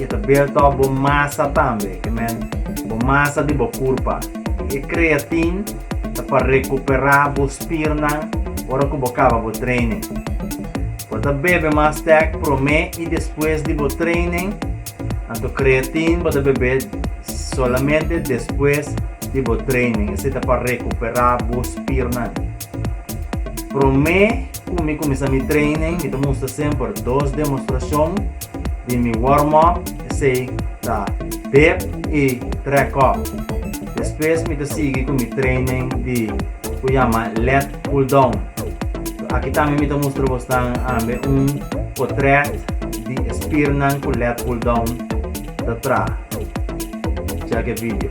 E ta beurtòp bo masa tambe, e men, bo masa di bo kurpa. E kreatin ta pa rekuperá bo spirnan ora ku bo kaba bo treinen. Bo ta bebe mas tèk promé i despues di bo treinen, anto kreatin bo ta bebé solamente despues di bo treinen, esei ta pa rekuperá bo spirnan. Promé ku mi kuminsá mi treinen, mi ta mustra semper dos demostrashon. di mi wormop, esei ta Dip i Track Up. Despues mi ta sigui ku mi training di ku yama Lat Pull Down. Aki tambe mi ta mustra bosnan ambe un potrèt di e spirnan ku Lat Pull Down ta traha. Chèk e video.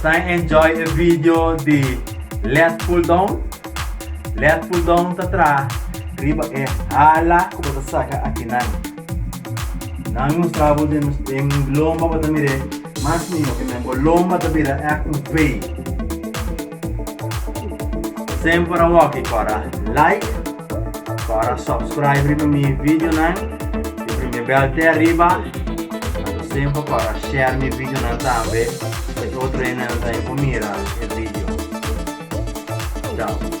Esai enjoy e video di led pull down? Led pull down ta traha riba e hala ku bo ta saka aki nan. Nan mi mustra bo den den lomba bo ta mir'é mas miho, kimin bo lomba ta bira èk un V. Semper a walkie kora like, kora subscribe riba mi videonan. Di primi bel te arriba. Anto semper kora share mi videonan tambe pa e otro hende nan tambe por mira e video. Ciao.